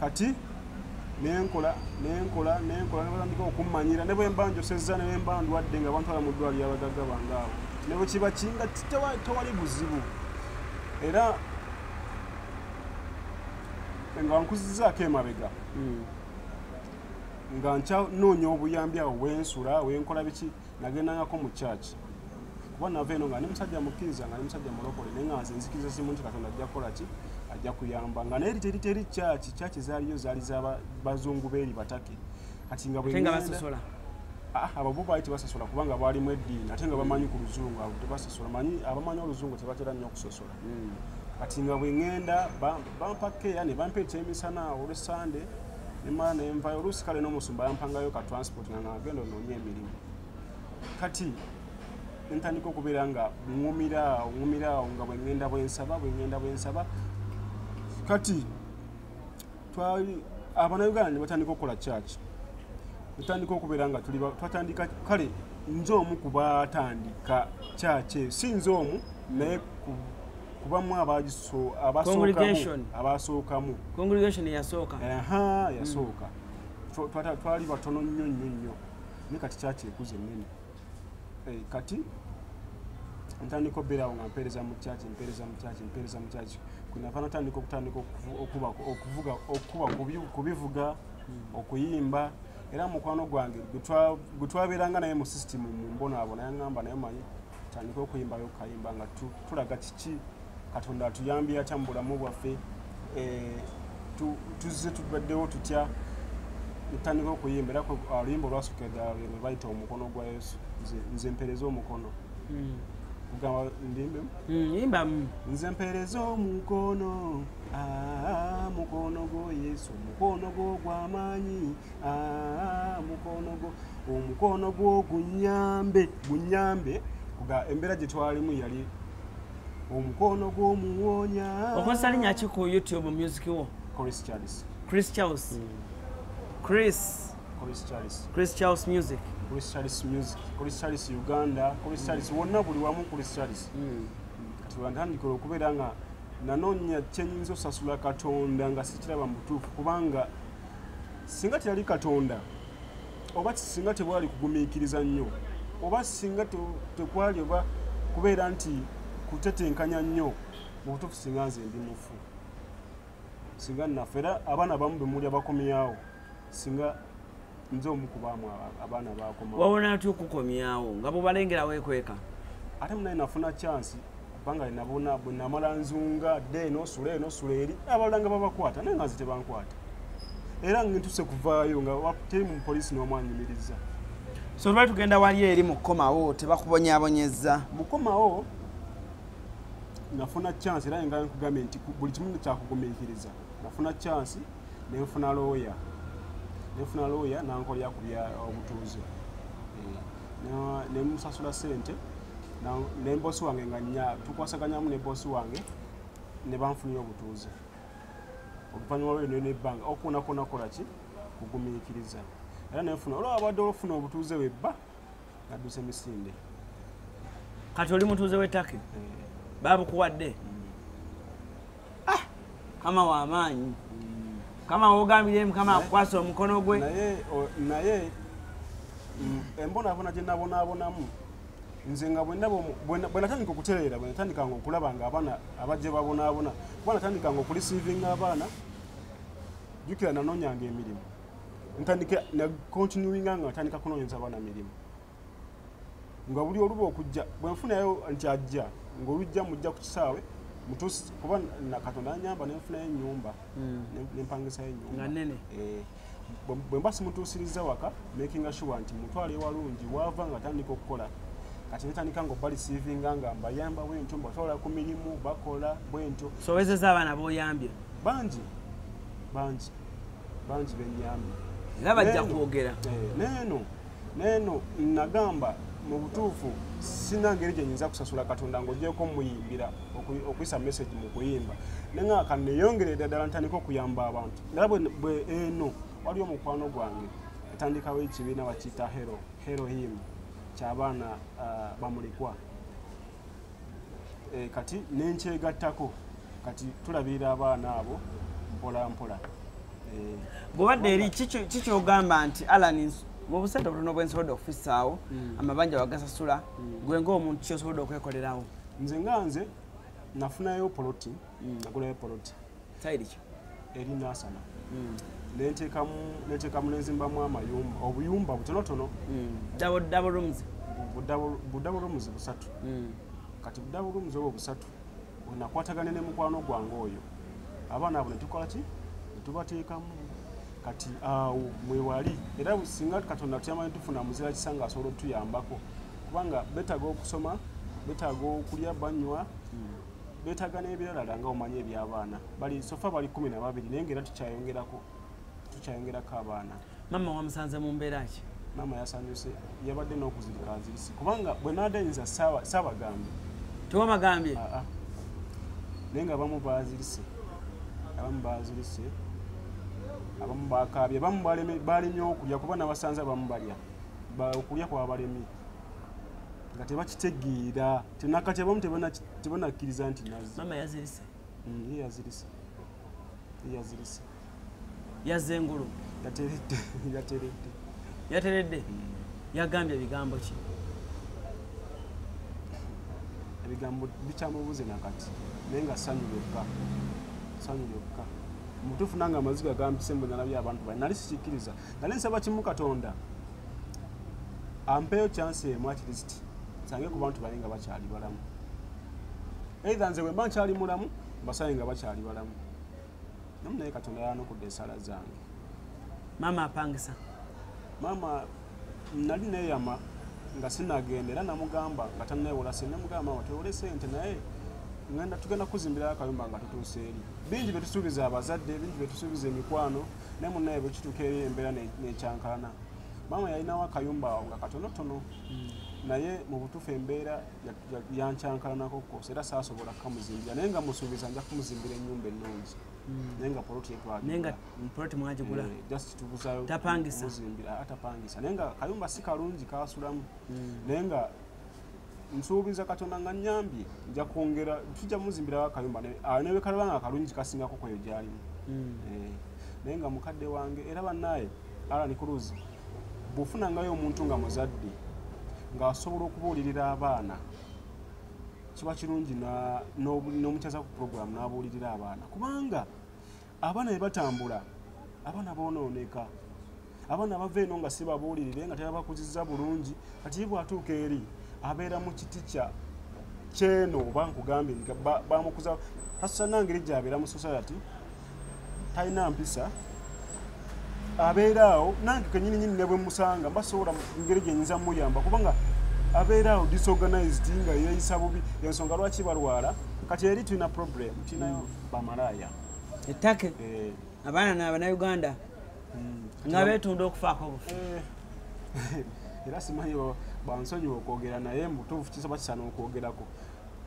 kati nenkola nenkola nenkola nebatandika okummanyira ne bwemba njosezza ne bwemba ndwadde nga bantwala mu ddwaliro abagagga bange awo ne bwe kiba kinga tewali buzibu era nga nkuzizaako emabega hmm. nga nkyanoonya obuyambi awo wensula wenkola biki nagendangako mu church kuba nava eno nga ndi musajja mukkiriza nga ndi musajja mulokole naye nga nze nzikiriza simu nti katonda ajja kukola ki ajja kuyamba nga naye teri teri church church zaaliyo zaali za bazungu beeri batake kati nga bwebasosola ah, ababo baali tebasosola kubanga baalimu eddiini ate nga bamanyi ku luzungu abo tebasosola manyi abamanyi oluzungu tebatera nnyo okusosola hmm. kati nga bwe ŋenda bampa keya ne bampa ekyemisana olwe sande nemala nenvayo oluusi kale n'omusumba yampangayo ka transport nga nagenda onoonya emirimu kati ntandika okubeera nga ŋumira ŋumira nga bwengenda bwensaba bwengenda bwensaba kati twali abanauganda ne batandika okukola kyaki tutandika okubeera nga tuli twatandika kale nze omu kubatandika kyaki si nze omu naye kubamu abaasookamu congregation yasooka aha yasooka hmm. twali batono nnyo nnyo nnyo naye kati kyaki ekuza ennene eh, kati ntandika obeerawo nga mpeereza mu kyaki mpeereza mu kyaki mpeereza mu kyaki kunava natandika okutandika okukuba kubivuga hmm. okuyimba era mukwano gwange gwe twabeeranga naye mu system mu mbonaabona yaŋamba naye manyi tandika okuyimbayo okayimba nga tulaga kiki katonda atuyambye atya mu bulamu bwaffe eh, tuzze tubaddewo tutya ntandika okuyimba era oluyimba olwasooka eddala lweno bayita omukono gwa yesu nze mpereza omukono hmm. kugamba ndimbemu hmm, nze mpereza omukono ah, mukono gwo yesu mukono gwo gwamaanyi ah, omukono gwo gunyambe gunyambe kuga embeera gye twalimu yali omukono gw'omuwonya okozesa linya ki ku youtube music wo chris charles chris charles mm. chris chris charles chris charles music chris charles music chris charles uganda chris mm. charles wonna buli wamu chris charles mm. kati wantandikira okubeera nga nanoonya kyenyinza osasula katonda nga sikiraba mutuufu kubanga singa teyali katonda oba singa tebwali kugumiikiriza nnyo oba singa tekwali oba kubeera nti kutetenkanya nnyo mu butuufu singa nze ndi mufu singa nnafe era abaana bamu bemuli abakomyawo singa nze omu kubaamu abaana bakomawo wawona atya okukomyawo nga bubalengera wekweka ate munaye nafuna chansi kubanga nabona bwe namala nzunga dde eno osula eno osula eri abalala nga babakwata naye nga nze tebankwata era ngentuse kuvaayo nga teri mu poliisi n'omwanyumiriza so lwali tugenda wali eri mukukomawo tebakubonyabonyezza mukukomawo nafuna chance era nga nkugambye nti buli kimu kyakugumiikiriza nafuna chance nenfuna looya nenfuna looya nankolera ku bya obutuuze eh, nemusasula sente ne bosi wange nga nya tukwasaganyamu ne bosi wange ne banfunira obutuuze oluvannyuma lwe nene ebbanga okuwonakona kola ki kugumiikiriza era nenfuna olwo abadde olufuna obutuuze webba nadduse misinde kati oli mutuuze wetake eh. babukuwadde mm. ah, kama wamaanyi kama wogambire mukama akukwasa omukono gwe naye mm, embonabona gyenabonabonamu nze nga bwenatandika okutereera bwenatandikanga okulaba nga abaana abajje babonabona kuba natandikanga okulisiivinga abaana jukira nanonyanga emirimu ntandika nacontinuinga nga natandika kunonyeza abaana mirimu nga buli oluba okujja bwenfunayo nti ajja ngaolujja mujja ku kisaawe mutusi kuba nakatonda anyamba nenfunayo enyumba hmm. nempangisayo enyumba eh, bwemba simutuusiriza waka makinga sure nti mutwala ewalungi wava nga atandika okukola kati netandika nga obali sivinga nga mbayamba bwentyo mbatwala ku mirimu bakola bwentyo sowezeza abaana boyambye bangi bangi bangi benyambye era bajja kwogera eh, neeno naye no nagamba mu butuufu sina ngeri gye nyinza kusasula katonda ng'ogyeko muyimbira okuyisa message mu kuyimba naye nga kaneyongere ddala ntandika okuyamba abantu naye bwe eno waliwo omukwano gwange atandikawo ekibiina bakiyita hero hero him kyabaana uh, bamulikwa Eh, kati nenkyegattako kati tulabirira abaana abo mpolampola eh, bwobadde eri kikyogamba nti alan mubusente obutono bwensobodde okufisaawo hmm. amabanja wagasasula hmm. gwe ngaomuntu kyosobodde okwekolerawo nze nga nze nafunayo poloti hmm. nagulayo poloti sayiriki eri nasana hmm. nentekamu nentekamu nenzimbamu amayumba obuyumba butonotono dabodabo hmm. rooms budabo rooms busatu hmm. kati budabo rooms obwo busatu onakwatagane ne mukwano gwange oyo abaana abo netukola ki netubateekamu kati awo mwewali era singa katonda tuyamanyi tufuna muzira kisa nga asobola otuyambako kubanga betaga okusoma betaga okulya banywa betaga nebiralala nga omanye ebyabaana bali sofa bali kumi na babiri naye ngaera tukyayongerako tukyayongerako abaana mama wamusanze mu mbeera ki mama yasanyuse yabadde n'okuzirika azirisi kubanga bwe nadayinza saabagambye tewabagambye ah, ah. naye nga abamu bazirise abamu bazirise abamu bakaabye abamu balemye okulya kuba nabasanze abamu balya okulya kwabalemye nga tebakitegeera tenakati abamu tebanakkiriza nti nazimama yazirise mm, ye yazirise ye yazirise yazze engulu yateredde yateredde yateredde mm. yagambye ebigambo ki ebigambo bikyamubuze nakati naye nga sanyu lyokka sanyu lyokka mutuufu nange amaziga gampise mbunalabye abantu bali nali sikikkiriza nali nsaba kimu katonda ampeyo chance emu at least sange ku bantu balinga bakyali balamu either nze bwemba nkyali mulamu basange nga bakyali balamu namu naye katonda yanukudde esala zange maama apangisa maama nali neyama nga sinagenda era namugamba nga tanaewola sente namugamba maama tewole sente naye ngenda tugenda kuzimbirayo akayumba nga tutuusa eri bingi byetusuubiza abazadde bingi byetusuubiza emikwano naye munaye bwekituuka eri embeera nekyankalana maama yalinawo akayumba awo nga katonotono hmm. naye mu butuufu embeera yankyankalanako kosa era saasobola kukamuzimbira naye nga musuubiza nja kumuzimbira ennyumba ennungi hmm. naye nga poloti yetwagirtapangisa eh, ah, naye nga kayumba si kalungi kasulamu hmm. naye nga nsuubiza katonda nga nyambye nja kwongera tujja muzimbirawo akayumba ah, newekalaba nga akalungi kasingako kweyo gyalimu hmm. eh, naye nga mukadde wange era banaye alanikuluzi bwofunangayo omuntu nga muzadde ngaasobola okubuulirira abaana kiba kirungi n'omukyaza ku puroguramu n'abuulirira abaana kubanga abaana bye batambula abaana boonooneka abaana bava eno nga si babuulirire nga tebabakuziza bulungi kati ye bw'atuuka eri abeera mu kiti kya kyeno oba nkugambye nti bamukuza hasa nangeri gyabeera mu society talina mpisa abeeraawo nange kenyini nyini nebwe musanga mbasobola ngeri gyenyinza muyamba kubanga abeeraawo disorganized nga yeeyisa bubi ensonga lwaki balwala kati eri tulina problem tulinayo hmm. bamalaya ettake eh. abaana nabanauganda hmm. nga betunda okufaako obufu eh. era simanyi bansonyiwa okwogera naye mutuufu kisoba kisana okwogerako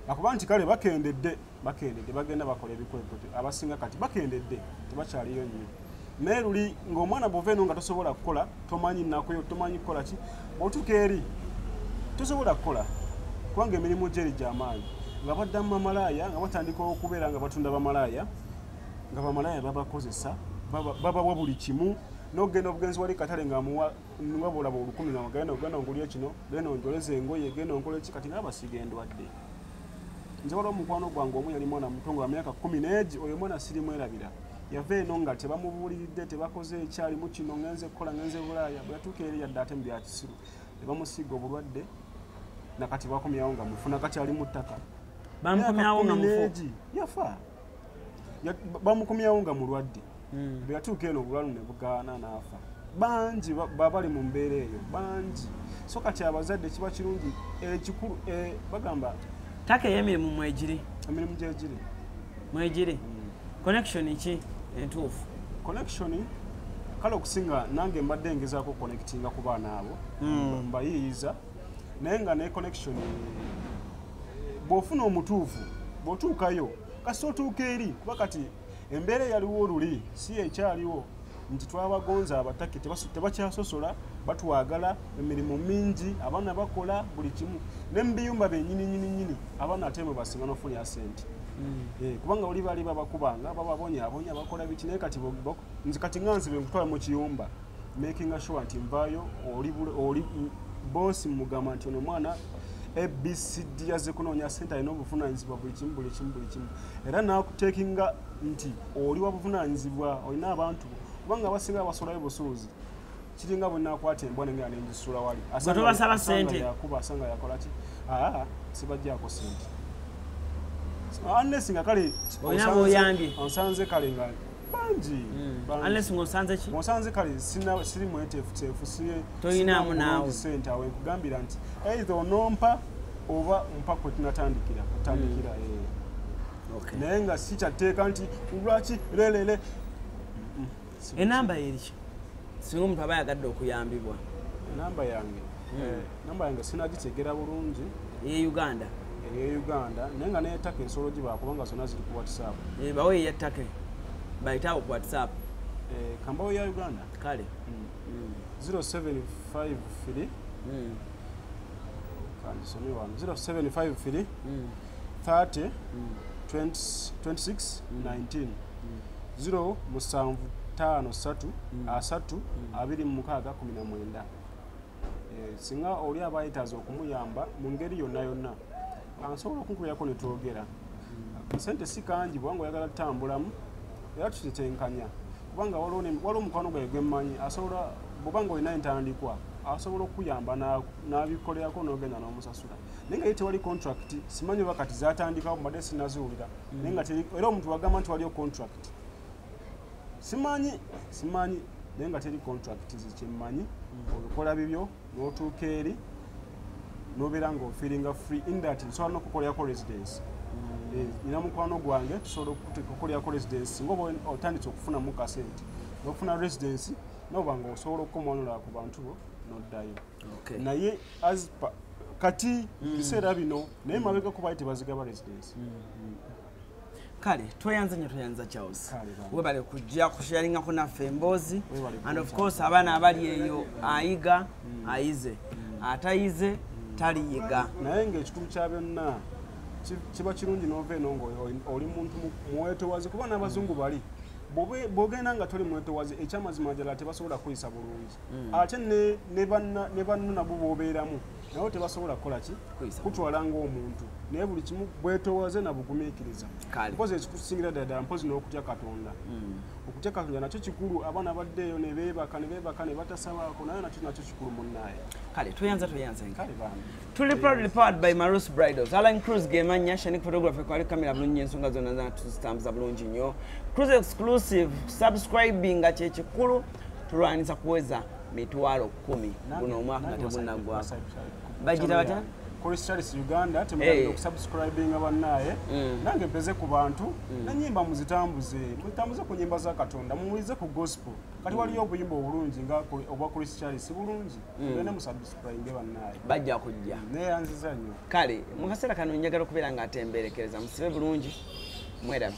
akuba nti kale bakendedde bakendedde bagenda bakola ebikweko abasinga kati bakendedde tebakyaliyo nnyo naye luli ngaomwana bwova eno nga tosobola kukola tomanyi nakuyo tomanyi kukola ki otuka eri tosobola kukola kubanga emirimu gyeri gyamaanyi nga baddamu bamalaaya nga batandika okubeera nga batunda bamalaaya nga bamalaaya babakozesa babawa buli kimu nogenda obugenzi wali katale ngawabulaba olukumi ngagenda ogenda ngulye kino genda onjoleza engoye genda onkola eki kati nga basiga endwadde nze waliwo omukwano gwange omu yali mwana muto nga myaka kumi negi oyo omwana sirimwerabira yava eno nga tebamubuuliridde tebakoze ekyalimu kino ngenze kukola ngenze bulaaya bwe yatuuka eri yadde ate mu byakisiru ne bamusiiga obulwadde nakati bakomyawo nga mufu nakati ali mu ttaka bamukomyawo nga mufu yafa bamukomyawo nga mulwadde hmm. bwe yatuuka eno obulwalu ne bugaana n'afa bangi babali mu mbeera eyo bangi so kati abazadde kiba kirungi ekikulu eh, eh, bagamba ttaka ey'emirimu mwegiri emirimu gyegiri mwegiri hmm. connection ki entuufu connection kale okusinga nange mbadde ngezaako connectinga ku baana abo hmm. mbayiiyiza naye nga ne connection bw'ofuna omutuufu bw'otuukayo kasita otuuka eri kuba kati embeera eyaliwo oluli si ekyaliwo nti twabagonza abatake tebakyasosola batwagala emirimu mingi abaana bakola buli kimu ne mubiyumba byenyininyininyini abaana ate mwe basinga nofunira sente hmm. eh, kubanga oli bali babakubanga bababonyabonya bakola biki naye kati nzi kati nga nzibe nkutwala mu kiyumba makinga sure nti nvaayo oli bosi mugamba nti ono mwana abcd yazze kunoonya sente alina obuvunanyizibwa buli kimu buli kimu buli kimu era nakutekinga nti oli wabuvunaanyizibwa olina abantu kubanga abasinga basulayo busuuzi kiringa bwe nakwata embwa nengera nengisula wali tobasaba sente yakuba asanga yakola ki aa sibajjaako sente unless nga kale onsanze kale nga bangi hmm. unless nga osanze ki onsanze kale sina siri mwetefutefu siye toyinamu naawe sente awe nkugambira nti either onompa oba mpa kwetunatandikira kutandikira hmm. ee eh. naye nga si kyatteeka nti lwaki lelele enamba yeriki singa omuntu aba yagadde okuyambibwa enamba yange hmm. eh, namba yange sinagitegera bulungi eye uganda eye uganda naye nga neyetaka ensolo gibakubanga zona ziri ku whatsapp eh, bawo eyetake bayitawo ku whatsapp eh, kambawo ya uganda kale 075 hmm. hmm. kanjisome wano 075 30 26 19 0 musanvu taano ssatu mm. asatu mm. abiri mu mukaaga kumi na mwenda eh, singa oli aba yetaaza okumuyamba mu ngeri yonna yonna ansobola okunkubyako ne twogera mm. sente si kangi bwanga oyagala tutambulamu era tutitenkanya kubanga waliwo omukwano gwaye gwemmanyi asobola bwobanga olina entandikwa asobola okukuyamba n'abikolerako n'ogenda n'omusasula naye nga ye tewali contract simanyi oba kati zatandikawo mbadde sinaziwulira mm. naye nga era omuntu wagamba nti waliyo contract simanyi simanyi naye nga teri contract zekyemmanyi mm. obikola bibyo n'otuuka eri nobeera nga ofiringa free in that nsobola nokukolerako residence mm. eh, nina mukwano gwange tusobola okukolerako residence nga oba otandise okufunamu kasente nofuna residence noba nga osobola okukomanula ku bantu bo noddayo no okay. naye as pa, kati mm. kiseera bino naye mm. mabega kubaali tebazigaba residence mm. Mm. kale tweyanze nyo tweyanza charles webale kujja kusharingako naffe emboozi and of course abaana abali eyo ayiga mm. ayize mm. atayize mm. taliyiga naye ngaekikulu kya byonna kiba kirungi nova eno nga oli muntu mwetowazi kuba n'abazungu bali bwogenda nga toli mwetowazi ekyamazima jala tebasobola kuyisa bulungi mm. ate ne banno nabo bobeeramu nabo tebasobola kukola ki kutwala ngaomuntu naye buli kimu bwetowaze nabugumiikiriza mpozi ekikusingira dada mpozi n'okutya katonda mm. okutya katonda nakyo kikulu abaana baddeeyo nebebaka nebebaka nebatasabaako naye nakyo nakyo kikulu munnaye kale tweyanza tweyanza kale bambi tuli proudly powered by marus bridals alan cruz gemanya shanik photography kwali kamera bulungi ensonga zonna zana tuzitambuza bulungi nnyo cruz exclusive subscribinga kyekikulu tulwaniza kuweza mitwalo kumi guno omwaka nga tegunaggwako bagira batya Christians Uganda temugenda eh. okusubscribing abannaye mm. nange mpeze ku bantu mm. nanyimba muzitambuze muzitambuze ku nyimba za Katonda muwulize ku gospel kati waliyo mm. obuyimba obulungi nga obwa Christians bulungi mugende musubscribinge bannaye bajja kujja neyanziza nnyo kale mu kaseera kano njagala okubeera nga atemberekereza musibe bulungi mwerabe